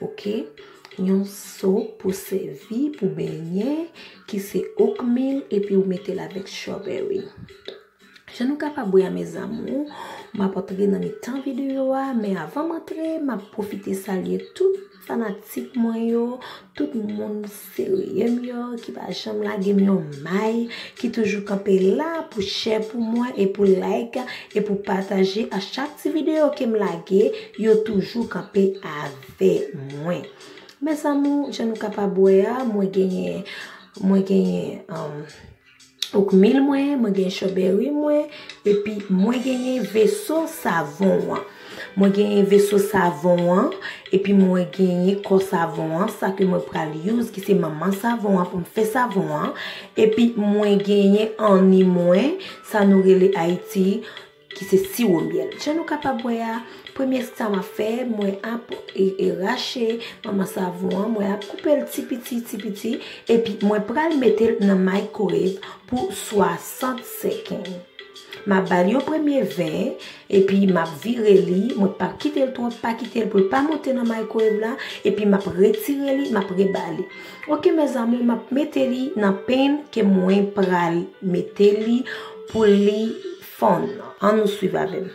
Ok yon so pou sevi pou benyen ki se okmil epi ou metel avek strawberry jan nou kapab wè a mes amour map antre nan mitan video a men avanm antre map profite salye tout fanatik mwen yo tout moun Serye m yo ki pa janm lage m yon may, ki toujou kanpe la pou share pou mwen e pou like e pou pataje a chak ti video ke m lage yo toujou kanpe avè mwen. Mes amour jan nou kapab wè a mwen genyen mwen genyen Ouk mil mwen, mwen gen chobèri mwen, epi mwen genyen veso savon an. Mwen genyen veso savon an, epi mwen genyen kò savon an, sa ke mwen pral youz ki se manman savon an pou m fè savon an. Epi mwen genyen anni mwen, sa nou rele Ayiti. Ki se siwo myèl. Jan nou kapab wè a, premye sa map fè, mwen ap rache manman savon an, mwen ap koupe l ti piti, ti piti, epi mwen pral mete l nan microwave pou 60 seconds. Map ba l yon premye 20, epi map vire li, mwen pap kite l twòp, pa kite l pou l pa monte nan microwave la, epi map retire li, map reba li. Ok mes amours, map mete li nan pen ke mwen pral mete li pou li Fon, an nou swiv avè m.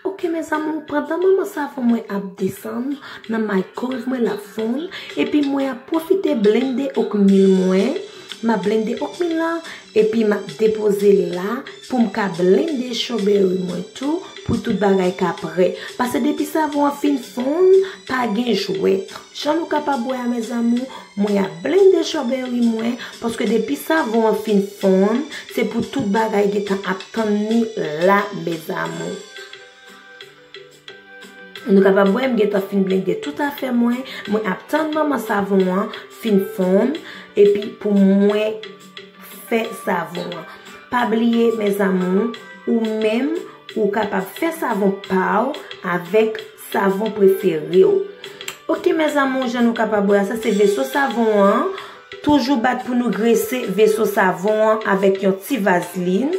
Ok mes amour, pandan manman savon mwen ap desann nan maykoz mwen lap fonn, epi mwen ap pwofite blende okmil mwen. Map blende ok mi la epi map depoze l la poum ka blende strawberry mwen tou pou tout bagay ka prè pase depi savon an fin fonn pa gen jwèt jan nou kapab wè a mes amours mwen ap blende strawberry mwen paske depi savon an fin fonn se pou tout bagay gentan ap tann ni la mes amours. Nou kapab wè m gentan fin blende tout afè mwen, mwen ap tann manman savon an fin fonn epi pou mwen fè savon an. Pa bliye mes amours ou menm ou kapab fè savon pa ou avèk savon prefere ou. Ok mes amours jan nou kapab wè a sa se veso savon an, toujou bat pou nou grese veso savon an avèk yon ti vazlin.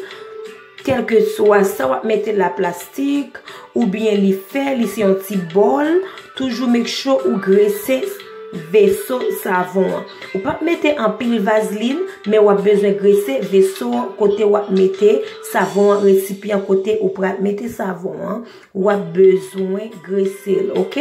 Kelke swa sa wap mete la plastik ou byen li fè li se yon ti bòl toujou make sure ou grese veso savon an. Ou pap mete anpil vazlin men wap bezwen grese veso an kote wap mete savon an resipyan kote ou pral mete savon an wap bezwen gresel ok.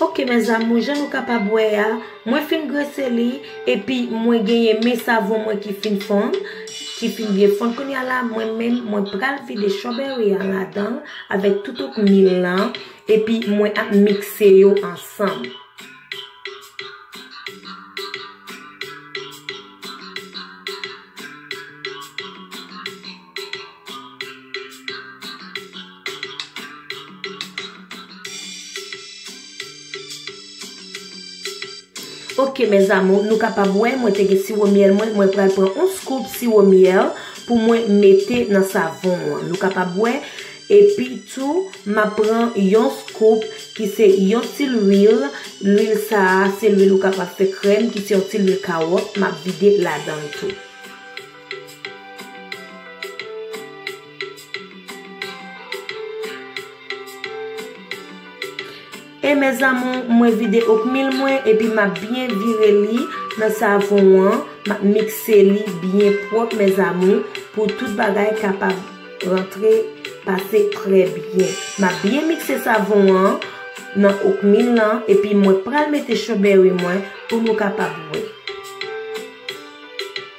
Ok mes amours jan nou kapab wè a mwen fin grese li epi mwen genyen men savon mwen ki fin fon ki fin byen fon kounya la mwen menm mwen pral vide strawberry an ladan avèk tout out mil lan epi mwen ap mikse yo ansanm. Ok mes amours nou kapab wè mwen te gen siwo myèl mwen mwen pral pran yon scoop siwo myèl pou mwen mete nan savon an nou kapab wè epi tou map pran yon scoop ki se yon ti lwil lwil sa a se lwil ou kapab fè krèm ki se yon ti lwil kawòt map vide ladan l tou. E mes amour mwen vide okmil mwen epi map byen vire li nan savon an map mikse li byen pwòp mes amour pou tout bagay kapab rantre pase trè byen map byen mikse savon an nan okmil lan epi mwen pral mete chobèri mwen pou nou kapab wè.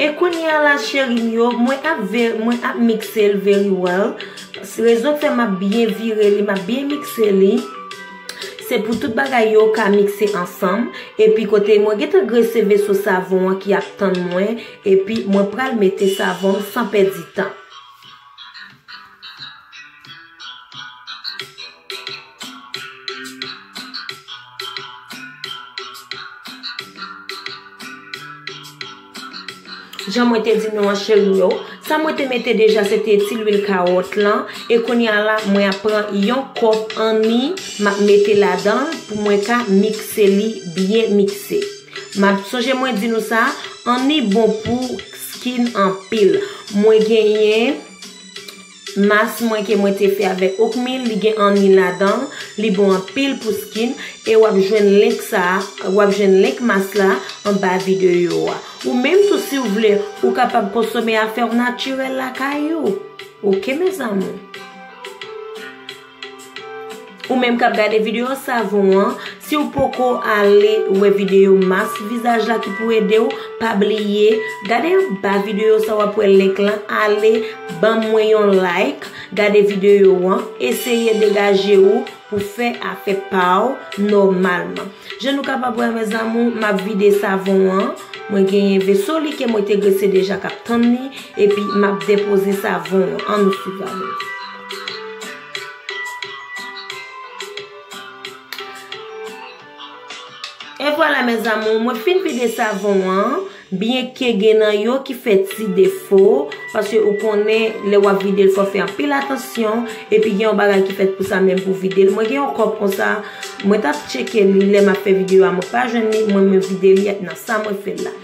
E kounya la cheri m yo, mwen ap ve, mwen ap mikse l very well. Rezon k fè m ap byen vire li, m ap byen mikse li, se pou tout bagay yo ka mikse ansanm. Epi kote mwen gen tan grese veso savon an ki ap tann mwen, epi mwen pral mete savon m san pèdi tan. Jan mwen te di nou an cheri yo, sa mwen te mete deja se te ti lwil kawòt lan, e kounye a la mwen ap pran yon kòp anni, m ap mete ladan l pou mwen ka mikse li byen mikse. Map sonje mwen di nou sa, anni bon pou skin anpil. Mwen genyen mask mwen ke mwen te fè avèk Ocmil, li gen anni ladan, li bon anpil pou skin, e wap jwenn link sa, wap jwenn link mask la anba videyo a. Ou menm tou siw vle, ou kapab konsome afèw natirèl lakay ou. Ok mes amour. Ou menm kap gade video savon an, si ou poko ale wè video mas vizaj la ki pou ede ou, pa bliye gade anba video sa wap wè link la ale banm mwen yon like, gade video an, eseye degaje ou pou fè afè pa ou nòmalman. Jan nou kapab wè mes amour, map vide savon an, mwen genyen veso li ke mwen te grese deja kap tann li, epi map depoze savon an, an nou swiv avèm. E vwala mes amour mwen fin vide savon an Byen ke gen nan yo ki fè ti defo Paske ou konnen lè wap vide l fò fè anpil atansyon Epi gen yon bagay ki fèt pou sa menm pou vide l Mwen gen yon kòp konsa Mwen tap tcheke li lè map fè videyo a mwen pa jwenn li Mwen mwen vide li ak nan sa mwen fè l la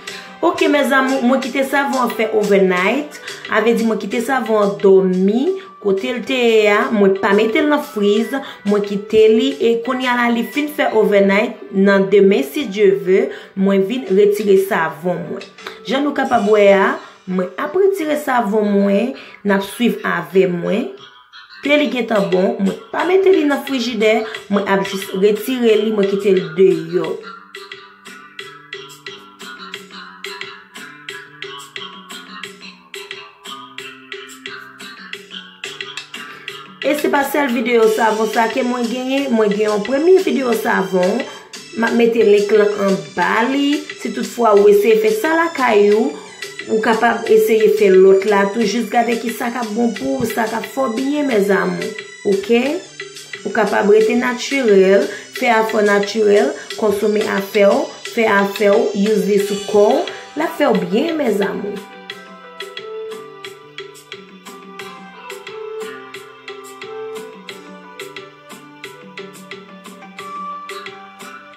Ok mes amour mwen kite savon an fè overnight avè di mwen kite savon an domi kotel te ye a mwen pa metel nan friz mwen kite li e konya la li fin fè overnight nan demen si Dieu veut mwen vin retire savon mwen jan nou kapab wè a mwen ap retire savon mwen nap swiv avè mwen. Te li gentan bon, mwen pa mete li nan frijidè, mwen ap jis retire li, mwen kite li deyò. E se pa sèl videyo savon sa ke mwen genyen, mwen gen yon premye videyo savon, map mete link lan anba li, si tout fwa ou eseye fè sa lakay ou. Ou kapab eseye fè lòt la tou jis gade ki sa kap bon pou ou sa kap fè w byen mes amours ok ou kapab rete naturel fè afè w naturel konsome afè w fè afè w use li sou kò w lap fè w byen mes amours.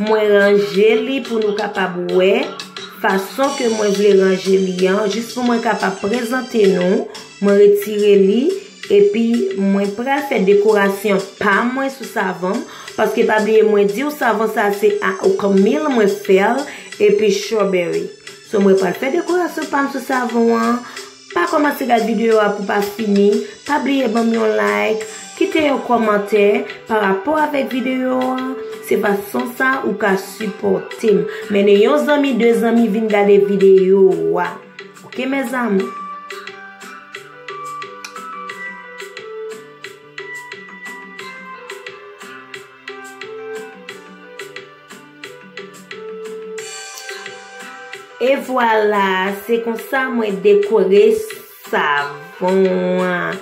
Mwen ranje li pou nou kapab wè fason ke mwen vle ranje li an jis pou mwen kapab prezante nou mwen retire li epi mwen pral fè dekorasyon pa mwen sou savanm paske pa bliye mwen diw savan sa se a okamil mwen fèl epi strawberry sou mwen pral fè dekorasyon pa m sou savon an Pa kòmanse gad videyo a pou pa fini, pa bliye banm yon like, kite yon kòmantè pa rapò avèk videyo a, se fason sa ou ka sipòtem, mennen yon zanmi 2 zanmi vin gade videyo a ok mes amour. E vwala, se konsa mwen dekore savon an.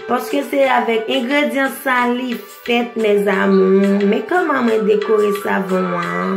Paske se avèk engredyan sa li fèt mes amours. Men koman mwen dekore savon an.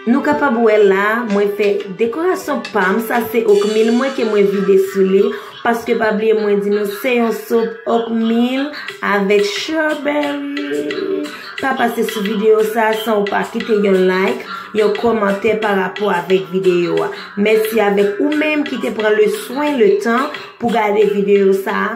Nou kapab wè la mwen fè dekorasyon pam sa se okmil mwen ke mwen vide sou li paske pa bliye mwen di nou se yon sop okmil avèk strawberry pa pase sou video sa san ou pa kite yon like yon komante pa rapò avèk video a mèsi avèk ou menm ki te pran le swen le tan pou gade video sa